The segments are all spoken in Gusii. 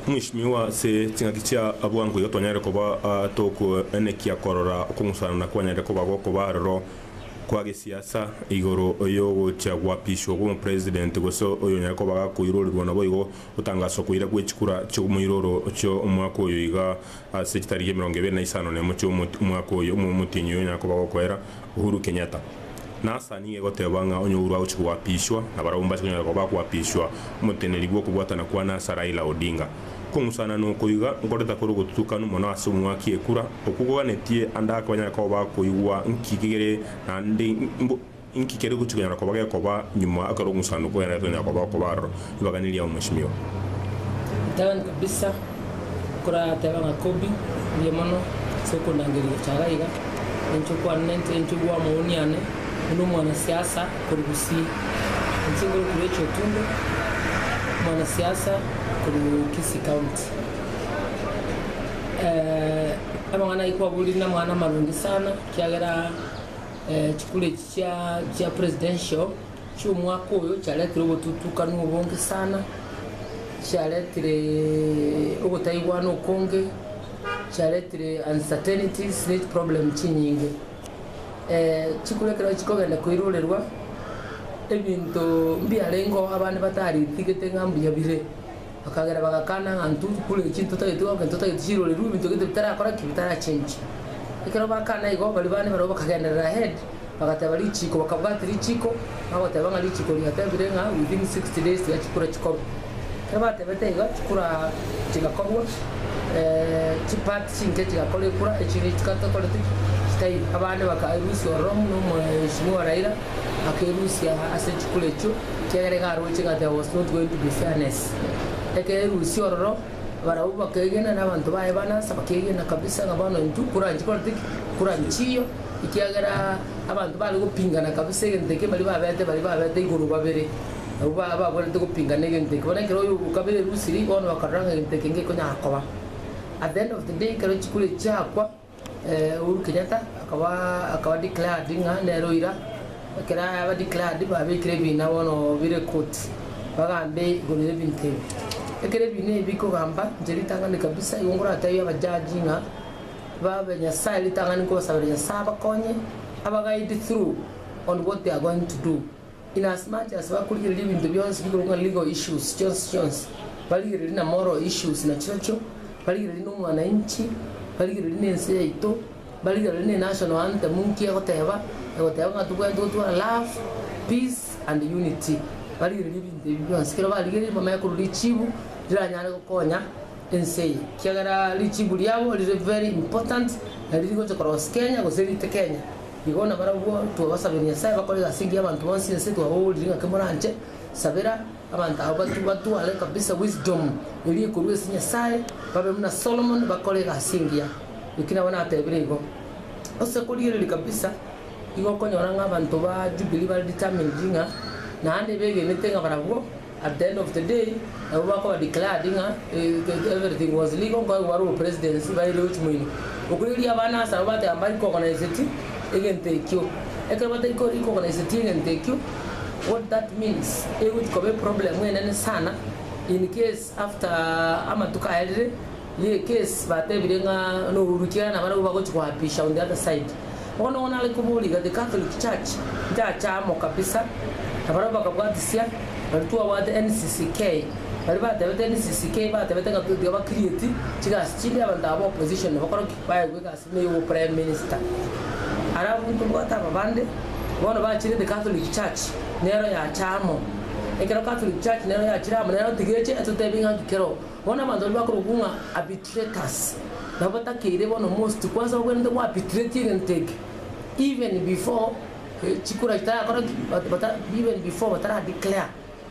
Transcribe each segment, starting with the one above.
Mwishimiwa ase ching'aki chia abwango igo twanyare koba tokoenekia korora okong'usanana kwanyare koba gokoba aroro kwa gesiasa igoro yogochia gwapiswa kw'omopresident gose oyo onyare koba gakoirorerwa naboigo gotangaswa koira gwechikura chi'omoiroro chi'omwaka oyo iga Ase chitariki emerongo ebere na isano na emo chia omwaka oyo omo omotienyi oyo onyare koba gokoera Uhuru Kenyatta. Nasa nigo egoteba ng'a onye Uhuru agochia koapishwa nabarabwo mbache konyara koba bakoapishwa omoteneneri bw'okobwatana kwane ase Raila Odinga. Kong'usana noko iga nkoreta kore ogotutukanu mono ase omwaki ekura okwo koganetie ande ake banyare koba bakoigwa nki kegere naende Inki kere gochia konyara koba gekoba nyuma ekero omosanduku oye naete onyare koba okoba aroro? Ribaganirie amo, Mweshimiwa. Tebani kabisa okorateba ng'a Kobi mbuya mono ase okondangeria gochara iga. Inche okwane inche inche bwa omouni ane buna omwana siasa korwa Gusii. Inche ngoro Kurechi Otundo omwana siasa korwa Kisii County. Amang'ana ayio kwaborire namang'ana amarungi sana ekiagera. Chikura echi chia presidential chi'omwaka oyo chiaretire obotutukanu obonge sana, chiaretire ogotaigwana okonge, chiaretire uncertainties ne chi problem chinyinge. Chikura ekero chikogenda koirorerwa, ebinto mbiarengeo abande bataritigete ng'a mbuya bire. Bakagera bagakana ng'a intwe tokure chii, totageti goka intwe totageti chirore rue, ebinto gete bitarakora ki? Bitarachenche. Ekero bakana igo, baria bane barabwo bakagenderera ahead, bagateba richiko, bakabwati richiko, bagoteba ng'a richiko riatebire ng'a within sixty days tiga chikure chikorwa. Ekero batebete igo, chikura chigakorwa, chi part chinke chigakora ekura, echiria chitatokoreti ki? Chitaiyo. Abande baka lose ororo buna omweshimiwa Raila, akerusia ase chikure echio, ekiagera iga aroche ng'a there was not going to be fairness. Ekerusia ororo, barabwo bakegena na abanto baye ba Nasa bakegena kabisa ng'a bono intwe koranchi korente ki? Koranchi chiyo, ekiagera abanto bare gopingana kabisa egento ekio baria babete baria babete igoro babere, abwo ba babwenerete gopingana egento ekio. Bono ekero oyo o kabere erusirie, bono bakarora ng'a egento eke ngekonyara koba. At the end of the day ekero chikure echi chiakwa. Uhuru Kenyatta akaba akaba declared ng'a nere oira, ekero aba declared babekire ebina bono bire koti, bagambe igoro y'ebinto ebi. Ekero ebina ebi bikogamba inche ritang'ani kabisa igo ngoratebie aba judge ng'a babe Nyasae ritang'ani nkobasabera Nyasae abakonye, aba guide through on what they are going to do. Inasmuch as bakorigereria ebinto bionsi bigoro ng'a legal issues chionsi chionsi, barigererie na moral issues nachirochio, barigererie na omwananchi, barigererie na ense yaito, barigererie na enational anthem nki egoteba, egoteba ng'a tobwenerete gotwara love, peace and unity. Barigererie ebinto ebi bionsi. Ekero barigereire bamanye korwa richibu riranyare gokonya ense eye. Kiagera richibu riabo rire very important na riri gocha korosia Kenya gose rite Kenya. Igo nabarabwo twabasabire Nyasae bakore egasi engiya abanto bonsi ense twababoorire ng'ake moranche sabera abanto aba batu batware kabisa wisdom eria ekorwa ase Nyasae babe buna Solomon bakore egasi engiya eki nabo natebire igo ase korigereria kabisa igo okonyora ng'a abanto ba Jubilee bare determined ng'a naende begenete ng'a barabwo At the end of the day nabo bakoba declared ng'a everything was legal nkonya kobare obopresidency baire gochia moino. Okwo erio abana asabo bateba mba recognizeti egento ekio. Ekero batari ko recognizeti egento ekio what that means egochia koba eproblem enene sana in case after amatuko aya rire Ye case batebire ng'a no Uhuru Kyaina nabarabwo bagochi koapisha on the other side. Bono ogo nare koboriga the Catholic church nchache amo kabisa nabarabwo bakabwatisia baria twabwate NCCK baria batebete NCCK batebete ng'a totiga ba create chigasi chinde abanto aba opposition nabakore ki? Baegwe egasi ime yobo prime minister. Are abwo ntobwate aba bande bono bachire the Catholic church nero yacha amo. Ekero Catholic church nero yachire amo nero tiga eche etotebie ng'a nki kero Bono abanto baria bakorokwa ng'a arbitrators, nabo batakeire bono most kwanza bagwenerete go arbitrate egento eke even before chikura chitayakora ki? Bata even before batara declare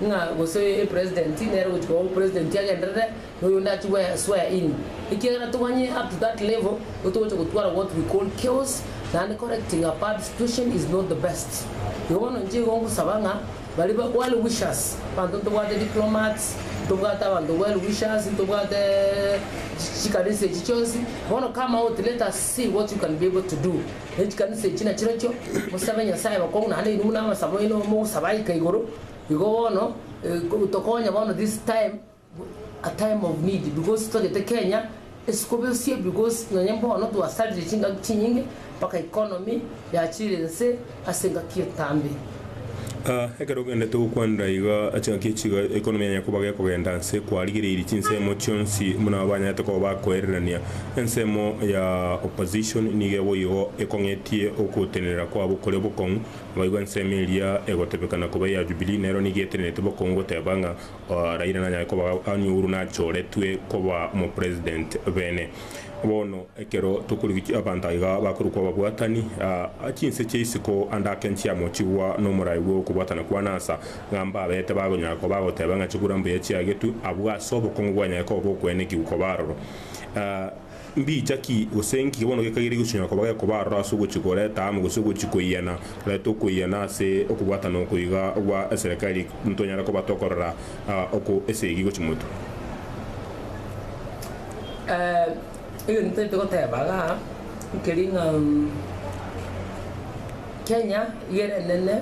ng'a gose e president nere ogochia koba president agenderere na oyonde achie gwe swear in. Ekiagera toganye up to that level nigo togocha gotwara what we call chaos naende correcting a bad situation is not the best. Igo bono inche igo ngosaba ng'a. Baria ba well wishers, abanto ntobwate diplomats, ntobwate abanto well wishers, ntobwate chi chikanisa echi chionsi, bono come out let us see what you can be able to do ne chikanisa echi na chirochio, mosabe Nyasaye abakong'u naende inwe buna abasamaino mogosaba aika igoro, igo bono eh tokonye bono this time. a time of need because totagete Kenya esikobesie because nonye bono twasarire chingaki chinyinge mpaka economy yachire ense ase engaki etambe. Ah, ekero ogendete gokwanera iga ase engaki echi iga economy yanya koba gekogenda nse kwarigereirie chinsemo chionsi buna abanyarete koba bakoererania. Ensemo ya opposition nigo eboigo ekong'etie ogotenenera kwabo kore bokong'u, abaigwa ensemo eria egotebekana koba eya Jubilee nero nigo etenenerete bokong'u goteba ng'a Raila nanyare koba ang'e ouru nachoretwe koba omopresident bene. Bono ekero tokorigia abanto aiga bakorokwa ababwatani, a chinse chia isiko ande ake nchiamochigwa nomorai bw'okobwatana kwane ansa, ng'a mbabete bagonyara koba bagoteba ng'a chigura mbuya chiagetwe, abwo ase obokong'u bwanyare koba bokoenekigwa koba aroro. Mbicha ki, gose nki bono gekaire gigosisanyora koba gekoba aroro ase ogochia koreta amo gose ogochia koiyana? Reta okoiyana ase okobwatana oko iga gwa eserekari ntonyare koba tokorora oko esegi gochia moto. Egento ntagete goteba iga nkeri ng'a Kenya iga ere enene.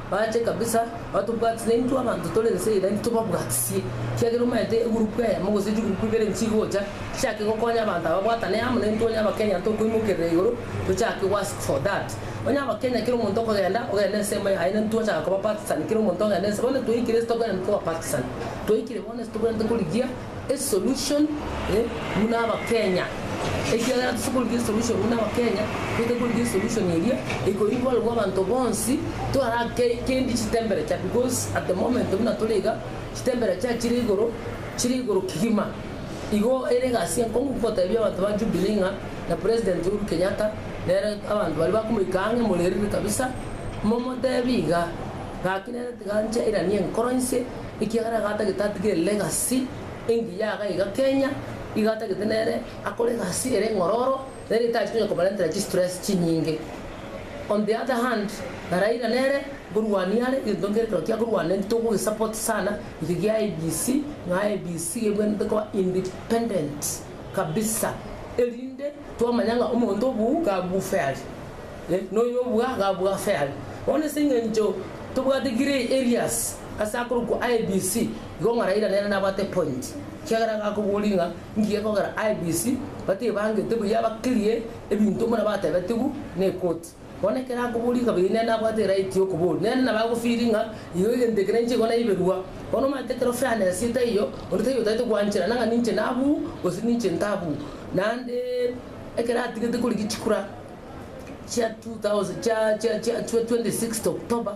bache kabisa batobwatise intwe abanto tore ense eye naintwe tobabwatisie, ekiagera omanyete egurupu eyemo gose chigurupu ibere nchigocha chichake gokonya abanto aba babwatane amo naintwe onye abakenya tokoimokerera igoro tochake go ask for that onye abakenya kera omonto okogenda ogende ensemo yaye naintwe twachaka koba partisan kera omonto ogende ense bono toikire ase tokogenda toba partisan toikire bono ase tobwenerete korigia esolution buna abakenya ekiagera tose korigia esolution buna abakenya toete korigia esolution eria ekoimborerwa abanto bonsi toarake kendi chitemberature because at the moment buna tore iga chitemberature chire igoro chire igoro kigima igo ere egasi enkong'u gotebia abanto ba jubilee ng'a na president uhuru kenyatta nere abanto baria bakomoika ang'e morerire kabisa momotebi iga gaki nere tiga nchairani enkoro inse. Ekiagera iga atagete atigere legacy engiya iga iga Kenya, iga atagete nere akore egasi ere eng'ororo, nere etacheti konya kobarentera chistress chinyinge. On the other hand, na Raila nere nkorwania are, egento nkere ekero kia korwana eki tokogesupport sana, eke kia IEBC, ng'a IEBC ebwenerete koba independent kabisa, erinde twamanya ng'a omonto obuu iga abuu fairly, eh, noyo obua iga abua fairly. Bono ase eng'encho tobwate kire areas. Ase akorokwa IEBC igo ng'a Raila nere nabwate point kiagera iga akoboria ng'a ngiya ekogera IEBC batebangete buya ba clear ebinto buna batebetigwe ne ekoti. Bono ekero akoboria kabere nere nabwate right ya okoboria. Nere nabo agofeel ng'a igo egento eke ninche igo naiberwa. Bono omanyete ekero fairness etaiyo onde taiyo otaete gwanchera nang'a ninche nabuu gose ninche ntabuu. Naende ekero atigete korigia chikura chia 2000 chia chia chia 26th October.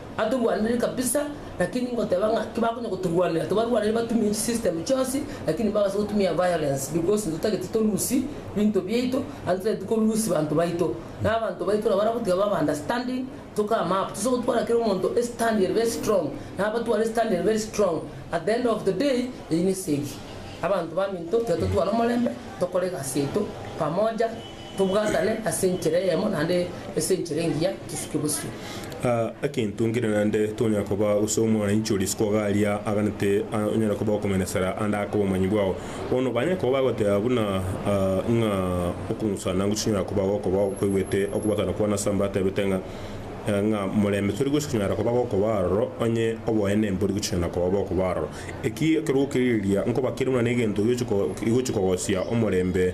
Atorwanire kabisa lakini ngoteba ng'a kibakonya gotorwanera tibarwanire batumie chi system chionsi lakini bagase gotumia violence because intwe totageti to lose binto biaito and totageti ko lose banto baito na abanto baito nabo baragotiga babe understanding to come up tose gotwara kera omonto a stand ere very strong nabo batware stand ere very strong at the end of the day eyio nesegi abanto baminto tiga totware omorembe tokore egasi yaito pamoja. Tobwatane ase enchera eyemo naende ase enchera engiya tosuke bosio. Egento nkere naende tonyare koba gose omwananchi oria isiko iga aria aganete onyare koba okomenesera ande ake obomanyi bwao. Bono banyare koba bagoteba buna ng'a okong'usana nang'u chinyare koba gokoba okweguete okobwatana kwane ase mbatebete ng'a ng'a morembe tori gose konyara koba gokoba aroro onye oboene mbori gochia na koba bokoba aroro. Eki ekero gokerigereria nkoba kere buna negento igochi igochi kogosia omorembe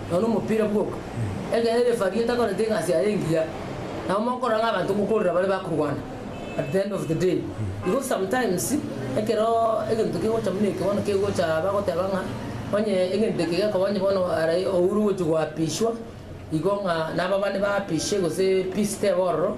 nonya nomopira bwoka, ekero refari atakorete egasi yaye engiya, nabo mokora ng'a abanto mokorera bare bakorwana at the end of the day. Because sometimes ekero egento kegocha buna eke bono kegocha bagoteba ng'a onye egento eke gekoba onye bono arai oure ogochi goapishwa igo ng'a nababani baapishe gose peace tebe ororo,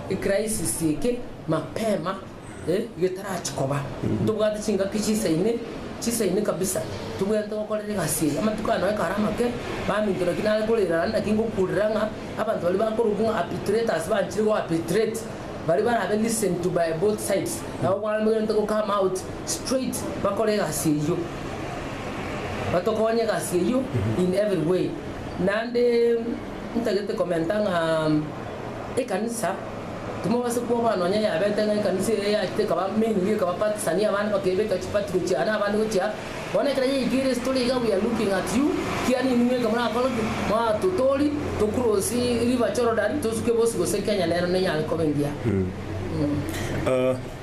Ecrisis eke mapema getarachi koba, ntobwate chingaki chisaine, chisaine kabisa, tobwenerete gokorera egasi eye. Amatuko aya noe kare amake, baminto, naki nare korera rende, naki ngokurera ng'a abanto baria bakorokwa ng'a apitreters banchire go apitrate, baria barabe listened to by both sides, nabo bono bagenderete go come out straight bakore egasi eyio, batokonye egasi eyio in every way. Naende ntagete commenta ng'a. ekanisa, timobasa kwoboa nonya yabete ng'a ekanisa eye yachete ekaba mainire ekaba patisani abande bakebeka chipati gochia aa na abande gochia aa. Bono ekero yaikire ere story iga we are looking at you, kia nini mweka morakora ki? Moraa totori to cross river Jordan tosuke bosi gose Kenya nero nenyare koba engiya.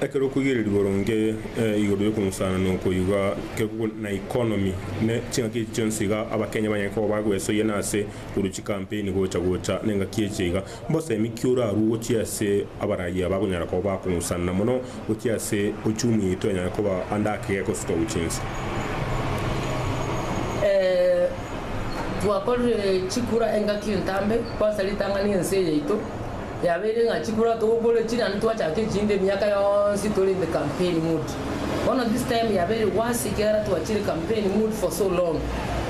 Ekero okoigereria boronge igoro yokomosanana oko iga, ekero na economy ne chingaki echi chionsi iga Abakenya banyare koba bagwesoyia na ase. korwa chikampeni gocha gocha nengaki echi iga, mbosemi ki orarue gochia ase abarayia abakonyara koba bakong'usanana mono gochia ase ochumu yaito enyare koba ande ake gekosuka gochia inse? Twakorire chikura engaki entambe, twansa ritang'ani ense yaito, Yabeire ng'a chikura togokora chi naende twachaka echinde emiaka yonsi tore in the campaign mood. Bono this time yabeire worse ekiagera twachire campaign mood for so long.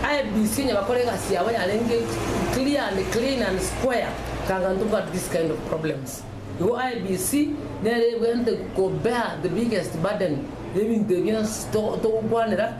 IEBC onye bakora egasi yabo yarenge clear and clean and square tanga ntoba have this kind of problems. Igo IEBC nere ebwente ko bear the biggest burden yebinto ebi bionsi togokwanera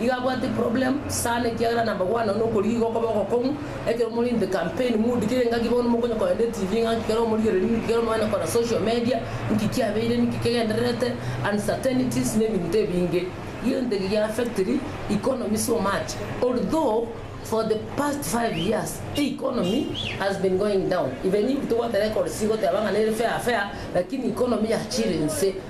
Iga abwate problem sana ekiagera namagwano nokorigia iga okoba ogokong'u ekero more in the campaign mood kera engaki bono mokonye kogenda eTV ng'a nki kero omorigereri nki kero omogende kora social media nki kiabeire nki kegendererete uncertainties na ebinto ebinge gento eki gia affectiri economy so much although for the past five years economy has been going down even if togoteba econocy goteba ng'a nere fair fair lakini economy yachire inse.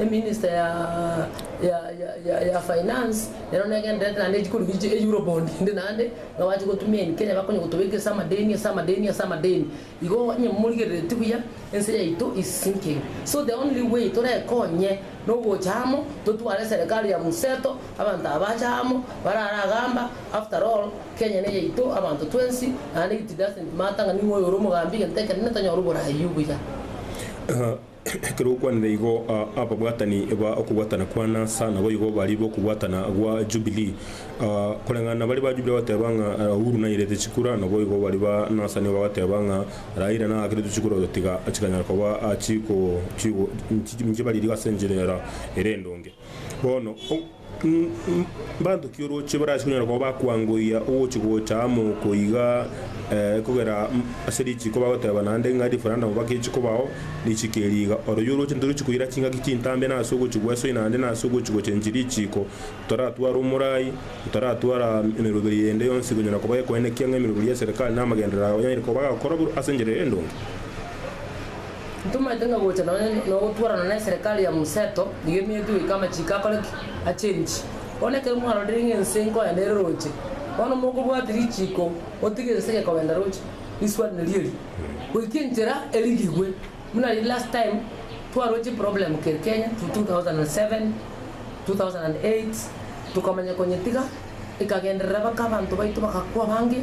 eminister ya ya ya ya finance nero negendererete naende echikorwa echi chia euro bond inde naende nabache gotumia in Kenya bakonya gotobeka ase amadeni ase amadeni ase amadeni igo onye morigereretie buya ense yaito is sinking so the only way torekonye nogocha amo totware serikali ya mseto abanto aba bache amo barara agamba after all Kenya neyaito abanto twensi naende it doesn't matter ng'a ning'o oyo ore omogambi egento ekero nintanyora oboraai obuya. Ekero okwanire igo, ababwatani ba okobwatana kwa Nasa naboigo baria b'okobwatana gwa Jubilii. Koreng'ana baria ba Jubilii bagateba ng'a Uhuru nairete chikura, naboigo baria ba Nasa nigo bagateba ng'a Raila nagakerete chikura otatiga chikanyara koba chiko, chiko, inche baririe ase enchera ere endonge. Bono, mbanto ki orooche barase konyara koba bakwangoyia ogochi-gocha amo oko iga, kogera ase richiiko bagoteba naende ng'a referandamu bagechi kobao, richiiko eri iga. Oro yo orooche ntorochi koira chingaki chintambe na ase ogochi gw'esoi naende na ase ogochi-gocha enchiri richiiko, toratwara omorai, toratwara emeroberio ende yonsi ekonyara koba ekoenekia ng'a emeroberio y'eserekari na amagenderero ao yanyare koba gakora ase enchera eye endonge. Ntomaete ng'a gocha nonya nogotwarana neserekari ya Museto nigo emete goika amachiko akore ki? Achenchi. Bono ekero mwarorire ng'a ense nkoya nere roche, bono mokobwati richiko gotiga ense egekobenda roche, risuaraneri eri, goika enchera erigigwe. Buna riria last time twarwa chiproblem keri Kenya 2007, 2008 tokamanya konyetiga. Ekagenderera bake abanto baito bagakwa abange.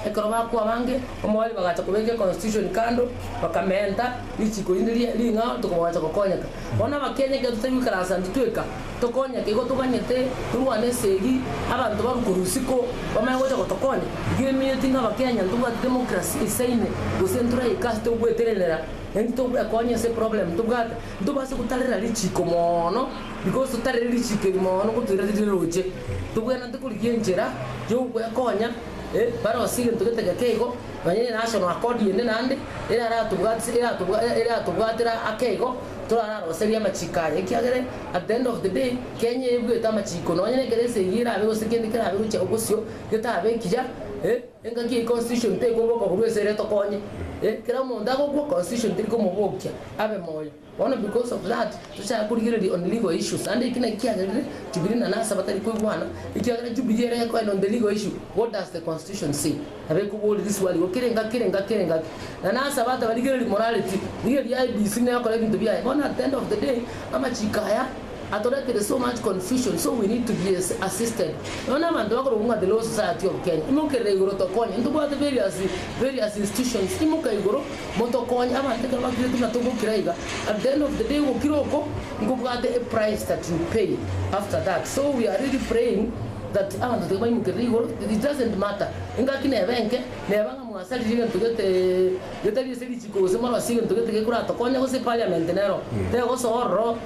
Ekero bakwa abange, omwari bagacha kobeka econstitution kando, bakamenta richiko rinde ria ring'ao ntuko bagacha gokonyeka. Bono abakenya ekiagera totari goikara ase intwe tweka, tokonyeke igo toganyete torwane esegi abanto barwe korwa isiko bamanye gocha gotokonya. Igo eminyoiti ng'a abakenya ntobwati democracy isaine gose ntoraika ase togweterenera, naintwe togoekonya ase eproblem tobwate. Ntobase gotarera richiko mono, because totarire richiko eri mono gotoira riria riroche, tobwenerete korigia enchera y'ogwekonya barose egento gete geke igo, nonya enational accord ende naende eraratobwatise eratobwatera ake igo, torararoserie amachiko aya, ekiagere at the end of the day Kenya ebuete amachiko, nonya nekero esegi erabe gose kende kerabe gochia gosio getabe ekiya. Engaki eye constitution tekoboka korwa esere etokonye eh kera omonto agokwa constitution teri komobokia abe moyo bono because of that tochaka korigereria on legal issues ande eki naki kiagerire jubilee nane ase batari koigwana ekiagera jubilee ere ekoenda on the legal issue what does the constitution say nabo ekobori riswali igo kera engaki kera engaki kera engaki nane ase abanto abarigereri morareti rigereria IEBC nekore ebinto biaye bono at the end of the day amachiko aya Atoretire so much confusion so we need to be assisted nonya na abanto bakorokwa the law society of Kenya imokerere igoro tokonye ntobwate various various institutions imoka igoro motokonye abanto ekero bakiretwe na togokira iga at the end of the day ogokira oko nkobwate a price that you pay after that so we are really praying that abanto tiga baimokerere igoro it doesn't matter engaki neba enke neba ng'a mwasaririe egento gete getari ase richiko gose morosie egento gete gekoratokonya gose parliament nero tegosoa ororo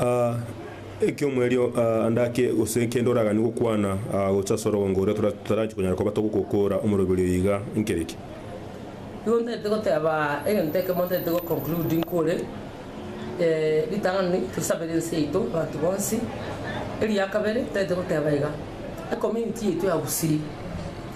Ah, ekiomwa erio ah, ande ake gose kende oragani gokwana ah, gocha sorogongo oria tora- totaranche konyara koba togokokora omoroberi oyo iga nkere ki? Igo ntaete goteba egento ekemo ntaete go conclude nkore eh, ritang'ani tosabere ense yaito abanto bonsi. Eria kabere ntaete goteba iga, ecommunity yaito ya Gusii.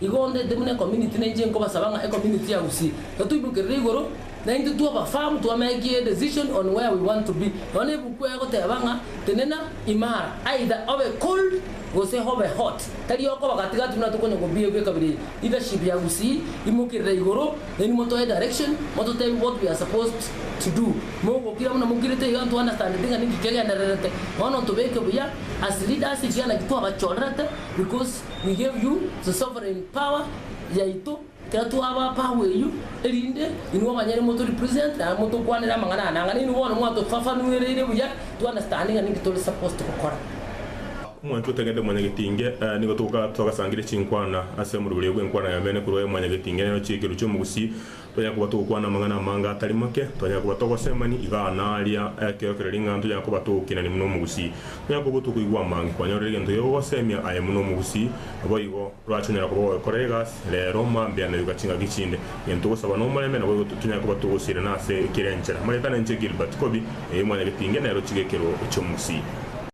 Igo ondete buna ecommunity na inche nkobasaba ng'a ecommunity ya Gusii totoibokerere igoro na intwe twaba firm twameki a decision on where we want to be nonya na ebuku eye egoteba ng'a tenena imara either obe cold gose obe hot tari okoba gati gati buna tokonya kobiegwa ekabira eye leadership ya Gusii imokerera igoro then motoe direction mototebie what we are supposed to do mogokira buna mokirete iga nto understandete ng'a ninki kegendererete bono ntobeke buya as leaders ekiagera naki twabachorerete because We gave you the sovereign power yaito ekero twabaa power eyio erinde inwe abanyene moto represent naende motokwanere amang'ana aya nang'ana inwe bono mwatofafanuereire buya to understand ng'a ninki tore supposed gokora. Omwancho otagete mwanyagetinge, nigo togasangeria chinkwana ase omorweri bw'enkwana y'emeene korwa aye mwanyagetinge, nero chiekero chi'omogusii. Tonyare koba togokwana amang'ana amange atari make, tonyare koba togosemani igaa na aaria, ekero kere ring'ana tonyare koba togokinani buna omogusii. Tonyare koba tokoigwa amange kwanyorire egento gio gogosemia aye buna omogusii. Naboigo, torache konyara koba goekora egasi, rero, mambia, na yoka chingaki chinde. Egento togosaba nomorembe, naboigo tonyare koba togosirana ase kera enchera. Moretane inche Gilbert Kobi, erio mwanyagetinge nero chigekerwo chi'omogusii.